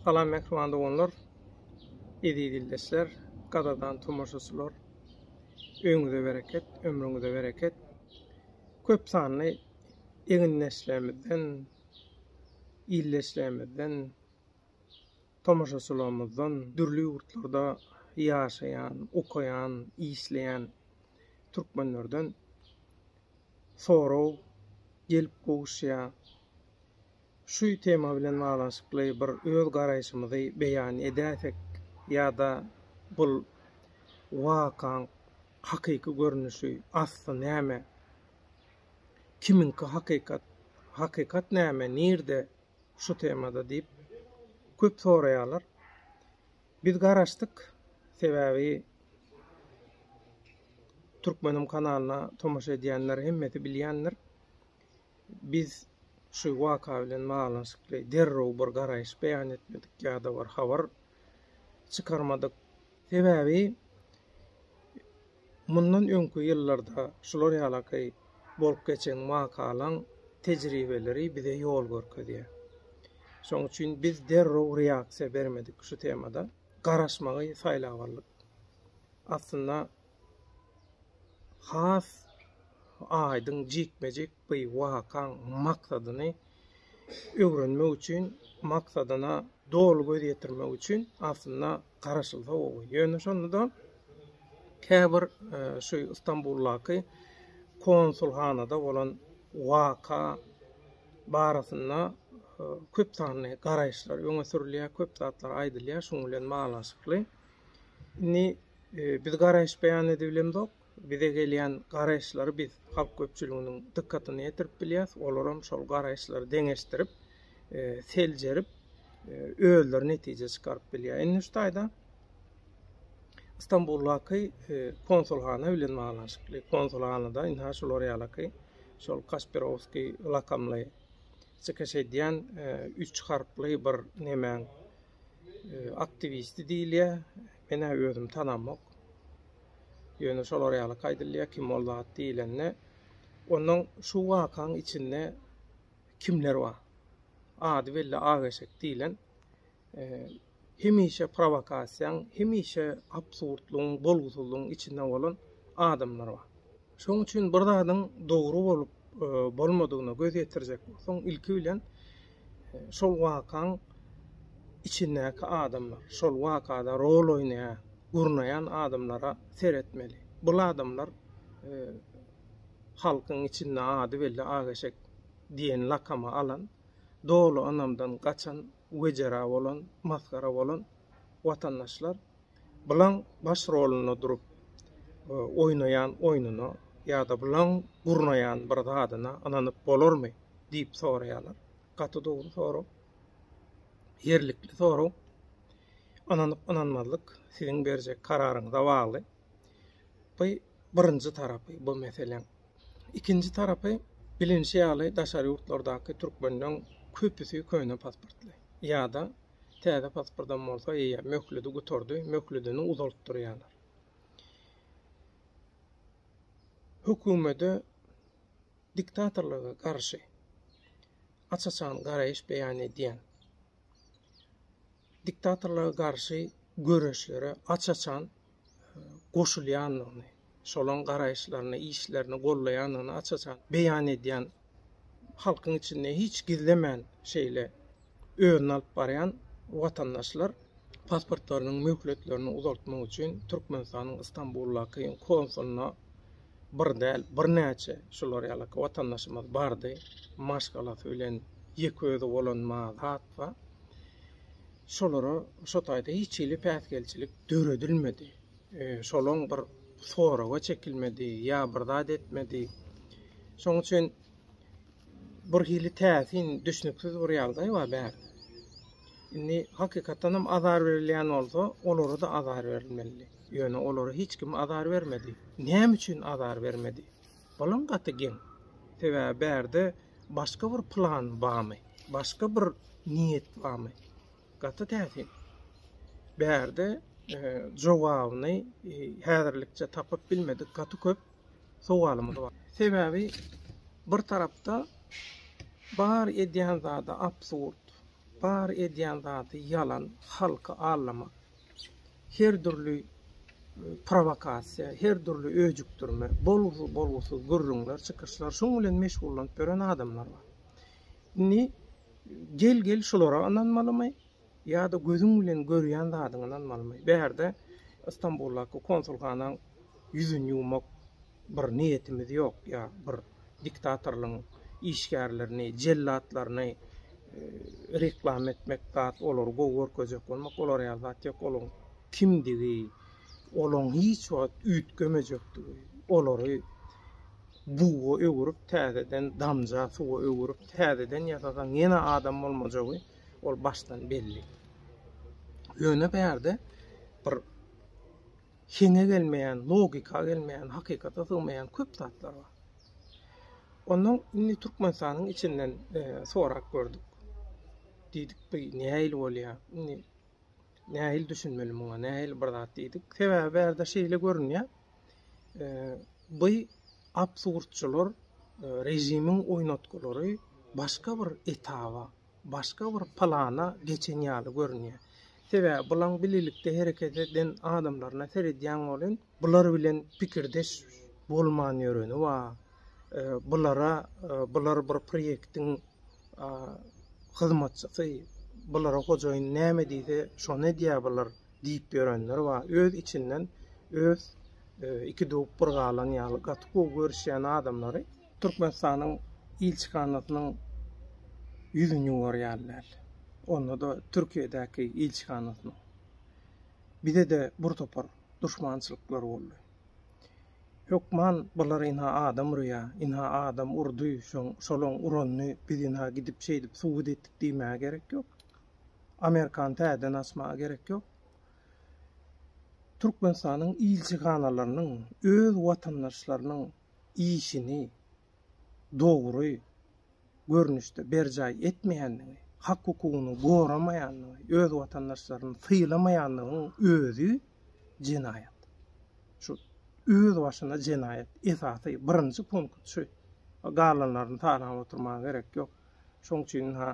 Salam mehriban doganlar, eziz ildeşler, gadadan tomaşaçylar. Öňüňize bereket, ömrüňize bereket. Köp sanly egindeşlerimizden, ildeşlerimizden Tomaşaçylarymyzdan dürli ýurtlarda ýaşaýan, okaýan, işleýän türkmenlerden sorag gelip gowuşýar. Şu tema bilen baglanyşykly bir öz garaýşymyzy beýan edäýsek ýa-da bul wakaň hakyky görnüşi, asly näme? Kimiňki hakykat? Hakykat näme, nirde? şu temada diýip köp soraýarlar. Biz garaşdyk. Sebäbi Türkmenim kanalyna tomaşa edýänler hemmesi bilýändir. Biz şu waka bilen baglanyşykly derrew bir garaýyş beýan etmedik ýa-da bir habar çykarmadyk. Sebäbi mundan öňki ýyllarda şular ýalaky bolup geçen wakalaň tejribeleri bize ýol görkezýär. Şoň üçin biz derrew reaksiýa bermedik şu temada. Garaşmagy saýlap aldyk. Aslynda has aýdyň, jikme-jik Bu wakaň maksadyny öwrenmek üçin, maksadyna doly göz ýetirmek üçin aslynda garaşylsa gowy. Ýöne şonda-da käbir şu Stambuldaky konsulhanada bolan waka barasynda köp sanly garaýyşlar öňe sürülýär, köp zatlar aýdylýar şunuň bilen baglanyşykly. Indi biz garaýyş beýan edibilemzok. bize gelýän garaýyşlary biz halk köpçüliginiň dykgatyna ýetirip bilýäs, olaram şol garaýyşlary deňeşdirip, seljerip, özleri netije çykaryp bilýär. Indi şu taýda Stambuldaky konsulhana bilen baglanyşykly, konsulhanada indi ha şular ýalaky şol Kaspirowskiý lakamly çykyş edýän üç harply bir nemäň aktiwisti diýilýär. Men-ä özüm tanamok. Ýöne şolar ýalyk aýdylýar, kim ol zat diýlende, ondan şu wakaň içinde kimler bar? Ady belli Ageşek diýlen hemişe prowokasiýaň, hemişe absurdlygyň, bolgusyzlygyň içinde bolan adamlar bar. Şonuň üçin bir zadyň dogry bolup bolmadygyna göz ýetirjek bolsaň, ilki bilen şol wakaň içindäki adamlar, şol wakada rol oýnaýan, gurnaýan adamlara seretmeli. Bul adamlar halkyň içinde ady belli Ak eşek diýen lakamy alan, doly ynamdan gaçan, Wejera bolan, masgara bolan watandaşlar Blaň baş rolunda durup oýnaýan oýnuna ýa-da Blaň gurnaýan bir zadyna ynanyp bolarmy? diýip soraýarlar. Gaty dogry sorag. Ýerlikli sorag. Ynanyp-ynanmazlyk siziň berjek kararyňyza bagly. Bu birinji tarapy bu meseleň. Ikinji tarapy, bilinişi ýaly, daşary ýurtlardaky türkmenleň köpüsi köne pasportly. Ýa-da täze pasportam bolsa, eýýäm möhledi gutardy, möhledini uzaltdyrýarlar. Hökümete diktatorlyga garşy aç-açan garaýyş beýan edýän, diktatorlyga garşy göreşlere aç-açan goşulýandygyny, şolaryň garaýyşlaryny, işlerini goldaýandygyny aç-açan beýan edýän, halkyň içinde hiç gizlemän şeýle özüni alyp barýan watandaşlar pasportlarynyň möhletlerini uzaltmak üçin Türkmenistanyň Istanbuldaky konsuluna bir däl, birnäçe şular ýaly watandaşymyz bardy. Maşgalasy bilen ýeke özi bolan ma zatba. Şolara şo taýda hiç hili päsgelçilik döredilmedi. Şolaň bir soraga çekilmedi ýa bir zat etmedi. Şoň üçin bir hili täsin, düşnüksiz bir ýagdaý bar bärde. Indi hakykatdan hem azar berilýän bolsa, olara-da azar berilmelidi. Ýöne olara hiç kim azar bermedi. Näme üçin azar bermedi? Bolam gaty geň. Sebäbi bärde başga bir plan bamy, başga bir niýet bamy. Gaty täsin. Bärde jogabyny häzirlikçe tapyp bilmedik gaty köp sowalymyz bar. Sebäbi bir tarapda bar edýän zady absurd, bar edýän zady ýalan, halky allamak. Her dürli prowokasiýa, her dürli öjükdirme, bolgusyz gürrüňler, çykyşlar, şoň bilen meşgullanyp ýören adamlar bar. Indi gel-gel şulara ynanmalymy ýa-da gözüň bilen görýän zadyňa ynanmalymy? Bärde Stambuldaky konsulhanaň ýüzüni ýuwmak Bir niýetimiz ýok ýa bir diktatorlyň işgärlerini, jellatlaryny reklama etmek zat, olary gowy görkezjek bolmak, olar ýaly zat ýok. Olaryň kimdigi, olaryň hiç wagt üýtgemejekdigi, olary buga öwürip, täzeden damja suwa öwürip, täzeden ýasasaň ýene adam bolmajagy ol başdan belli. Ýöne bärde bir Heňe gelmeýän, logika gelmeýän, hakykata sygmaýan köp zatlar bar. Ondan indi Türkmenistanyň içinden sorap gördük. Diýdik, bu nähili bolýar? Indi nähili düşünmeli muňa, nähili bir zat diýdik. Sebäbi bärde şeýle görünýär. Bu absurdçylar režimiň oýnatgylary başga bir etaba, başga bir plana geçen ýaly görünýär. Sebäbi bulaň bilelikde hereket eden adamlaryna seredýäň welin, bular bilen pikirdeş bolman ýöreni bar. Bulara bular bir proýektiň hyzmatçysy, bulara hojaýyn näme diýse, şony edýär bular diýip ýörenler bar. Öz içinden öz iki döwüp bir galan ýaly gaty gowy görüşýän adamlary. Türkmenistanyň ilçihanasynyň ýüzüni görýärler. Onda-da Türkiýedäki ilçihanasynyň. Bize-de bir topar duşmançylyklar boldy. Hökman bular ynha adam urýar, ynha adam urdy, şolaň uranyny biz ynha gidip şeýdip subut etdik diýmäge gerek ýok. Amerikany täzeden açmaga gerek ýok. Türkmenistanyň ilçihanalarynyň öz watandaşlarynyň işini dogry görnüşde berjaý etmeýänligi, hak-hukugyny goramaýanlygy, öz watandaşlaryny sylamaýanlygyň özi jenaýat. Şu öz başyna jenaýat esasy birinji punkt şu. Galanlaryny sanap oturmaga gerek ýok. Şoň üçin-ha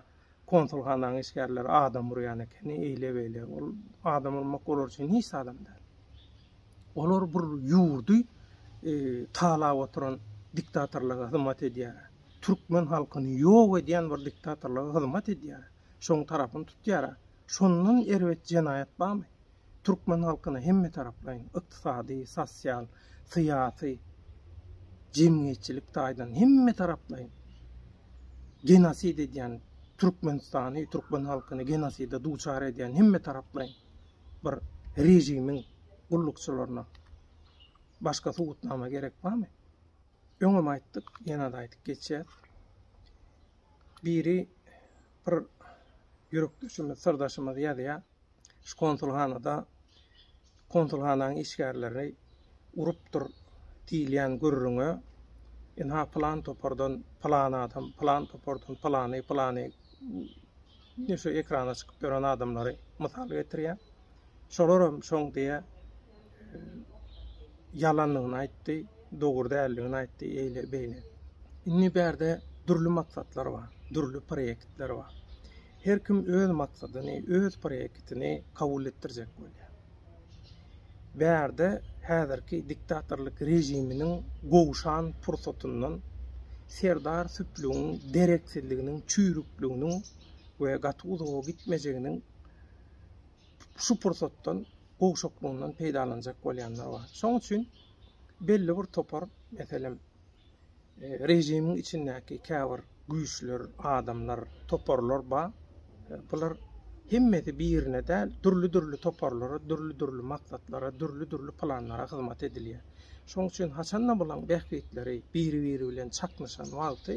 konsulhananyň işgärleri adam urýan ekeni, eýle-beýle. Ol adam urmak olar üçin hiç zadam däl. Olar bir ýurdy e, talap oturan diktatorlara hyzmat edýär. Türkmen halkyny ýok edýän bir diktatorlara hyzmat edýär. Şoň tarapyny tutýar. Şondan erbet jenaýat barmy? Türkmen halkyna hemmetaraplaýyn ykdysady, sosial, syýasy, jemgyýetçilik taýdan hemmetaraplaýyn genosid edýän Türkmenistany, türkmen halkyny genoside duçar edýän hemmetaraplaýyn bir režimiň gullukçylaryna başga subutnama gerek barmy? Öňem aýtdyk, ýene-de aýdyp geçýäs. Biri bir ýürekdeşimiz, syrdaşymyz ýazýar. Şu konsulhanada konsulhananyň işgärleri urupdyr diýilýän gürrüňe ynha pylan topardan pylan adam, pylan topardan pylany, pylany indi şu ekrana çykyp ýören adamlary mysal getirýär. Şolaram şoň diýe ýalanlygyny aýtdy, dogry däldigini aýtdy, eýle beýle. Indi bärde dürli maksatlar bar, dürli proýektler bar. Her kim öz maksadyny, öz proýektini kabul etdirjek bolýar. Bärde häzirki diktatorlyk režiminiň gowşan pursatyndan Serdar süplügiň dereksizliginiň, çüýrükliginiň we gaty uzaga gitmejeginiň şu pursatdan gowşaklygyndan peýdalanjak bolýanlar bar. Şoň üçin belli bir topar, meselem, režimiň içindäki käbir güýçler, adamlar, toparlar bar. Bular hemmesi birine däl, dürli-dürli toparlara, dürli-dürli maksatlara, dürli-dürli planlara hyzmat edilýär. Şonuň üçin haçan-da bularyň bähbitleri biri-biri bilen çaknyşan wagty,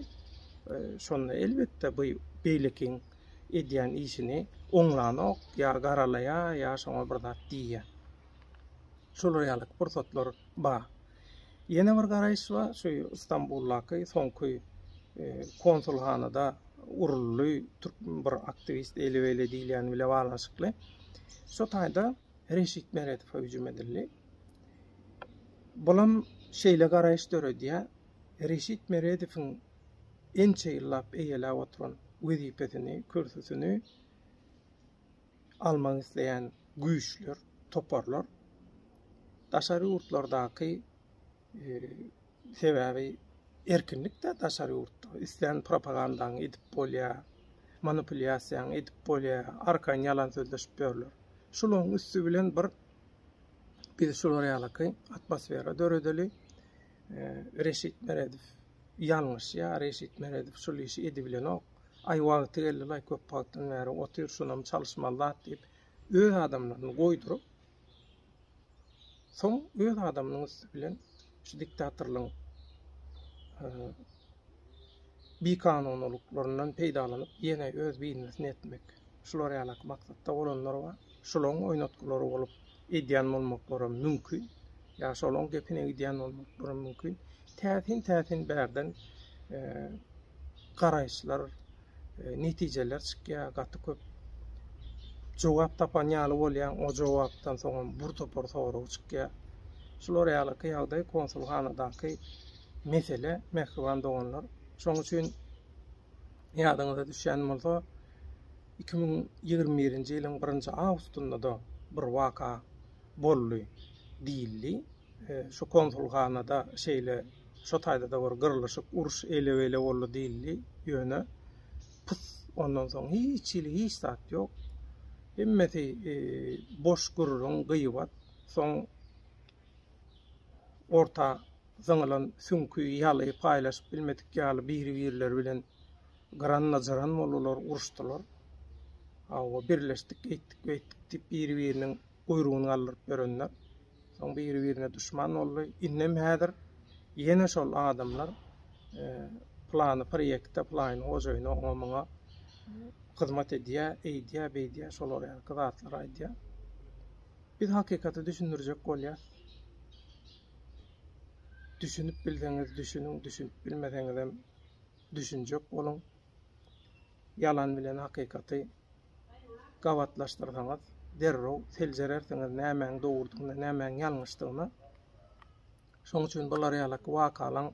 e, şonda elbetde bu beýlekiň edýän işini oňlanok, ýa garalaýar, ýa şoňa bir zat diýýär. Şolar ýaly pursatlar bar. Ýene bir garaýyş bar, şu Stambuldaky soňky konsulhanada uruldy, türk bir aktiwist eli beýle diýilýäni bile baglanyşykly. Şo taýda Reşit Meredowa hüjüm edildi. Bulam şeýle garaýyş döredýär, Reşit Meredowyň ençe ýyllap eýeläp oturan wezipesini, kürsüsini almak isleýän güýçler, toparlar daşary ýurtlardaky sebäbi erkinlikde daşary ýurtda islän propagandaňy edip bolýar, manipulýasiýaňy edip bolýar, arkan ýalan sözleşip ýörler. Şularyň üsti bilen bir biz şular ýalyky atmosfera döredeli. Reşit Meredow ýalňyşýar, Reşit Meredow şul işi edibilenok. Aý wagty geldilaý köp wagtdan bäri otyr şonam çalyşmaly zat diýip öz adamlaryny goýduryp soň öz adamynyň üsti bilen şu diktatorlygyň bikanunylyklaryndan peýdalanyp ýene öz biznesini etmek şular ýalaky maksatda bolanlar bar. Şolaryň oýnatgylary bolup edýän bolmaklaram mümkin. Ýa şolaryň gepine gidýän bolmaklaram mümkin. Täsin-täsin bärden garaýyşlar, netijeler çykýar. Gaty köp jogap tapan ýaly bolýaň. O jogapdan soňam bir topar sorag çykýar. Şular ýalyky ýagdaý konsulhanadaky mesele, mähriban doganlar. Şonuň üçin ýadyňyza düşýän bolsa, iki müň ýigrimi birinji ýylyň birinji awgustynda-da bir waka boldy diýildi. Şu konsulhanada şeýle şo taýda-da bir gyrlyşyk, uruş eýle-beýle boldy diýildi. Ýöne pus, ondan soň hiç hili hiç zat ýok. Hemmesi boş gürrüň, gyýbat. Soň orta zyňylan süňki ýaly paýlaşyp bilmedik ýaly biri-birleri bilen Gyranlajaran boldular, uruşdylar. Hawa, birleşdik, eýtdik, beýtdik diýip, biri-biriniň guýrugyny galdyryp ýörenler. Soň biri-birine duşman boldy. Indem häzir ýene şol adamlar plany proýekte, plaýyn hojaýyna, oňa-muňa hyzmat edýär, eýdýär, beýdýär, şolar ýaly zatlar aýdýar. Biz hakykaty düşündirjek bolýarys. Düşünip bilseňiz düşüniň, düşünip bilmeseňizem Düşünjek boluň, ýalan bilen hakykaty gabatlaşdyrsaňyz, derrew seljerersiňiz nämäň dogrudygyna, nämäň ýalňyşdygyna. Şonuň üçin bular ýaly wakalaň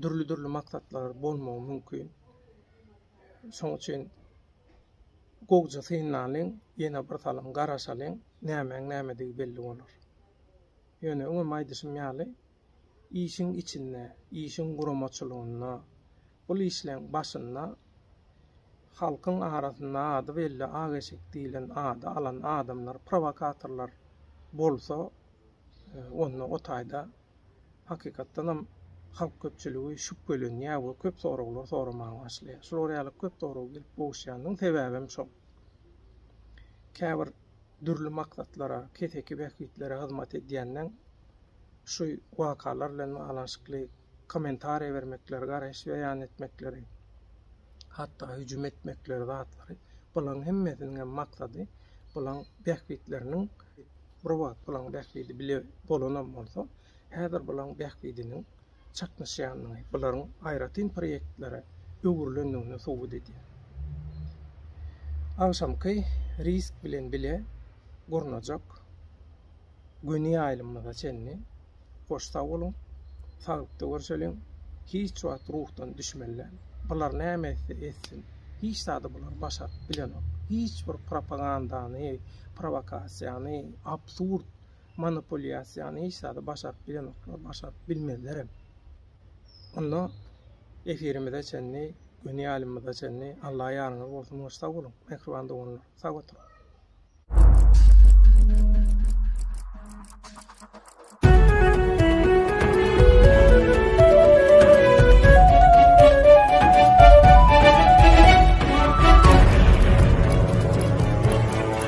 dürli-dürli maksatlary bolmagy mümkin. Şonuň üçin gowja synlalyň, ýene bir salym garaşalyň, nämäň nämedigi belli bolar. Ýöne öňem aýdyşym ýaly, Işiň içinde, işiň guramaçylygynda, bul işleň başynda halkyň arasynda ady belli ak eşek diýilen ady alan adamlar, prowokatorlar bolsa, onda o taýda hakykatdanam halk köpçüligi şübhelenýär we köp soraglar soramaga başlaýar. Şular ýaly köp sorag gelip gowuşýanyň sebäbem şol. Käbir. dürli maksatlara, keseki bähbitlere hyzmat edýändigiň şu wakalar bilen baglanyşykly kommentariýa bermekleri, garaýyş beýan etmekleri, hatda hüjüm etmekleri zatlary, bularyň hemmesiniň hem maksady bularyň bähbitleriniň, bir wagt bularyň bähbidi bile bolanam bolsa, häzir bularyň bähbidiniň çaknyşýandygy bularyň aýratyn proýektlere öwrülendigini subut edýär. Agşamky risk bilen bile gurnajak göni ýaýlymymyza çenli hoş sag boluň, saglykda görşeliň, hiç wagt ruhdan düşmeliler, bular näme etse etsin, hiç zady bular başaryp bilenok, hiç bir propagandany, prowokasiýany, absurd. Monopolýasiýany hiç zada başaryp bilenoklar, başaryp bilmezlerem. Onda efirimize çenli, göni ýalymyza çenli Alla ýaryňyz bolsun we sag boluň, mähriban doganlar. Sag oturyň.